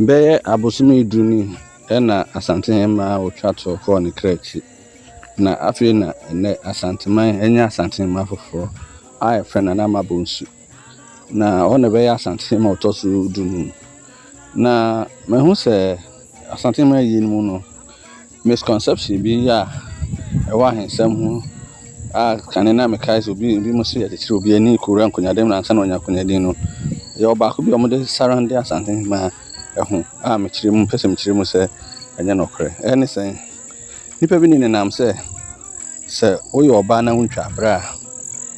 Bɛyɛ abosome du ni na Asantehemmaa Otwa Toɔ kɔɔ ne kra akyi, na afei na ɛnnɛ Asanteman anya Asantehemmaa foforɔ a yɛfrɛ no Anamma Bonsu, na ɔno na ɛbɛyɛ Asantehemmaa a ɔtɔ so dunum. Na mahu sɛ Asantehemmaa yinom no, Misconception bi a ɛwɔ ahensɛm ho a kane na mekae sɛ obi ebinom se yɛkyekyere obi ani kowura nkonyaaden mu na ansa na wanya nkonyaaden no yɛwɔ baako bi a wɔde surrounde Asante Hemmaa ho a mekyerɛ mu pɛ sɛ mekyerɛ mu sɛ ɛnyɛ nokorɛ. Ɛne sɛn? Nnipa bi ne nenam sɛ. sɛ woyɛ ɔbaa na wontwa abrɛ a,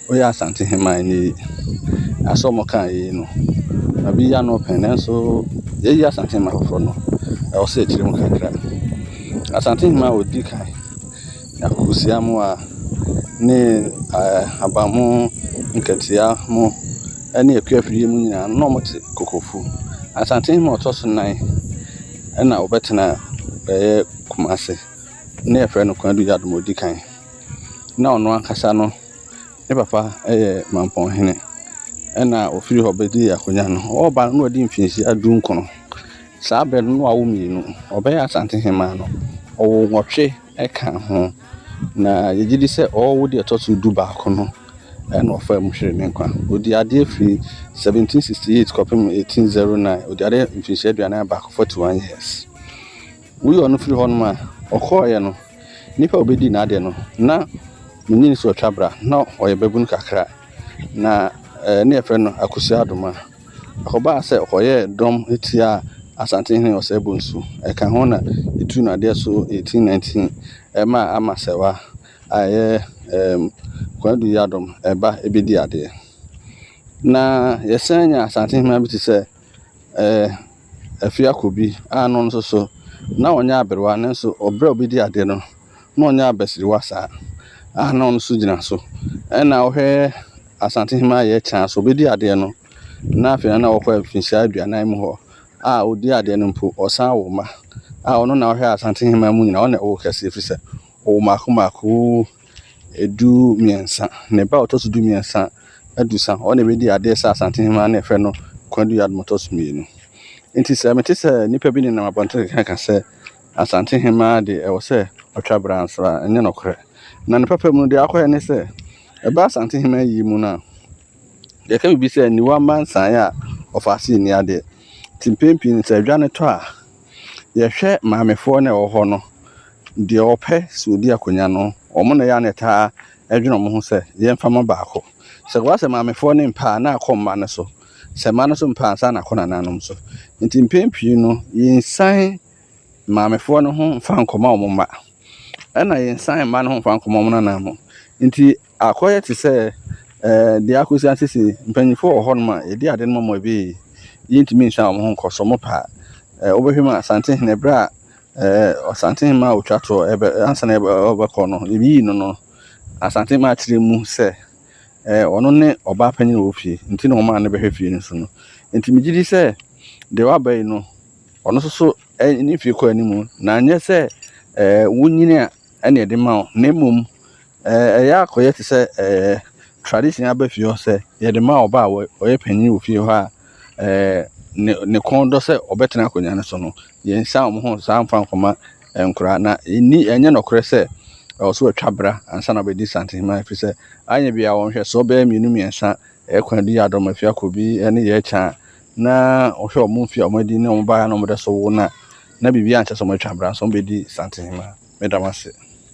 woyɛ Asante hemman ni. Na sɛ wɔka yei no, na bi yɛ ano pɛn nanso yɛyi Asante hemman foforɔ no, ɛwɔ sɛ yɛkyerɛ mu kakra. Asante hemman a ɔdi kan ne Akokosia mu a ne ɛɛ Abamu, Nkatia mu ne Akua Afie mu nyinaa na wɔte Kokofu. Asante hemman a ɔtɔ so nnan ɛna ɔbɛtena ɛyɛ Kumase. na yɛfrɛ no Kwadu Yadom Odikan. Na ɔno ankasa no ne papa yɛ Mampɔn hene ɛna ɔfiri hɔ bɛdii akonnwa no. Ɔreba no na ɔdi mfinhyia du nkron. Saa berɛ no na wawo mmienu. Ɔbɛyɛ Asante hemaa no, ɔwoo nwɔtwe ka ho. Na yɛgye di sɛ ɔrewo deɛ ɛtɔ so du baako no na ɔfaa mu hweree ne nkwa. Ɔdii adeɛ firi 1768 kɔpem 1809. Ɔdii adeɛ mfinhyia aduanan baako, 41 years. Woyi ɔno firi hɔnom a, ɔkɔeɛ no, nnipa a wɔbɛdii n'adeɛ no, na ne nyini so atwa bra, na ɔyɛ babunu kakra, na ne yɛfrɛ no Akosua Adoma. Ɛkɔbaa sɛ ɔkɔyɛɛ dɔm tiaa Asantehene Ɔsɛe Bonsu. Ɛka ho na ɛtuu no adeɛ so 1819, ɛmaa Ama Sɛwa a ɛyɛ ɛɛm Kwadu Yiadom ba bɛdii adeɛ. Na yɛsan nya Asantehemmaa bi te sɛ ɛɛ. Afiako bi a no nso so na ɔnyɛ aberewa nanso ɔbrɛ a ɔbɛdi adeɛ no na ɔnyɛ abasiriwa saa a na ɔno nso gyina so. Ɛna wohwɛ Asantehema Yɛɛ Kyaa so ɔbɛdi adeɛ no na afei na ɔkɔ mfinhyia aduanan mu hɔ a ɔdi adeɛ no mpo ɔsan wo mma a ɔno na ɔhwɛ Asantehema mu nyinaa ɔna ɛwo kɛseɛ ɛfiri sɛ ɔwo mmaako mmaako. Ɛduru mmiɛnsa, ne ba a ɔtɔ so du mmiɛnsa adu sa, ɔno na ɛbɛdi adeɛ sɛ Asante Hemmaa na yɛfrɛ no Kwadu Yadom ɔtɔ so mmienu. Nti sɛ mete sɛ nnipa bi nenam abɔnten keka ka sɛ Asante Hemmaa de ɛwɔ sɛ ɔtwa bra nso a, ɛnyɛ nokorɛ. Na ne papa mu no deɛ akɔyɛ ne sɛ, ɛba Asante Hemmaa yie mu no a, yɛka biribi sɛ aniwa mma nsaeɛ a, ɔfaase nni adeɛ. Nti mpɛn pii no sɛ adwa no tɔ a, Yɛhwɛ maamefoɔ na ɛwɔ hɔ no, deɛ ɔpɛ sɛ ɔdi akonnwa no, wɔn na ɛyɛ a na ɛtaa dwene wɔn ho sɛ yɛmfa mma baako. Sɛ ɛba sɛ maamefoɔ no mpɛ a, na akɔ mma no so. Sɛ mma no nso mpɛ a, ansa na akɔ nananom so. Nti mpɛn pii no, yɛnsiane maamefoɔ no ho mfa nkɔma wɔn mma. Ɛna yɛnsiane mma no ho mfa nkɔma wɔn nananom. Nti. Akɔyɛ te sɛ deɛ akɔsi ansisi mpanyinfoɔ wɔ hɔnom a yɛdi ade no mɔmɔ ebi yɛntumi nhyɛ wɔn ho nkɔ so wɔn pɛ a wobɛhwɛ mu a Asantehene berɛ a Asantehene a ɔtwa toɔ ɛbɛ ansa na ɔbɛkɔ no yɛyii no no Asantehene akyerɛ mu sɛ ɔno ne ɔbaa panyin wɔ fie nti na wɔn a ne bɛhwɛ fie no so no nti megye di sɛ deɛ waba yi no ɔno nso so ne fie kɔ anim na anyɛ sɛ wonyini a ɛna ɛde ma wo na mmom ɛyɛ akɔyɛ te sɛ ɛɛ tradition aba fie hɔ sɛ yɛde ma ɔba a ɔyɛ panyin wɔ fie hɔ a ɛɛ ne ne kɔn dɔ sɛ ɔbɛtena akonnwa no so no yɛnsa wɔn ho saa nfa nkɔma nkora na ɛni ɛnyɛ nɔkorɛ sɛ ɛwɔ so atwa bra ansa na ɔbɛdi santenhema ɛfiri sɛ anyɛ bia wɔn hwɛ so ɔbɛyɛ mmienu mmiɛnsa ɛkwan di yɛ adɔm afia kɔ bi ɛne yɛ kyɛn a na wɔhwɛ wɔn mfe a wɔadi ne wɔn baeɛ a na wɔde sow wɔn a, na biribiara nkyɛ sɛ wɔatwa bra, nanso wɔbɛdi Santen Hema. Meda mo ase.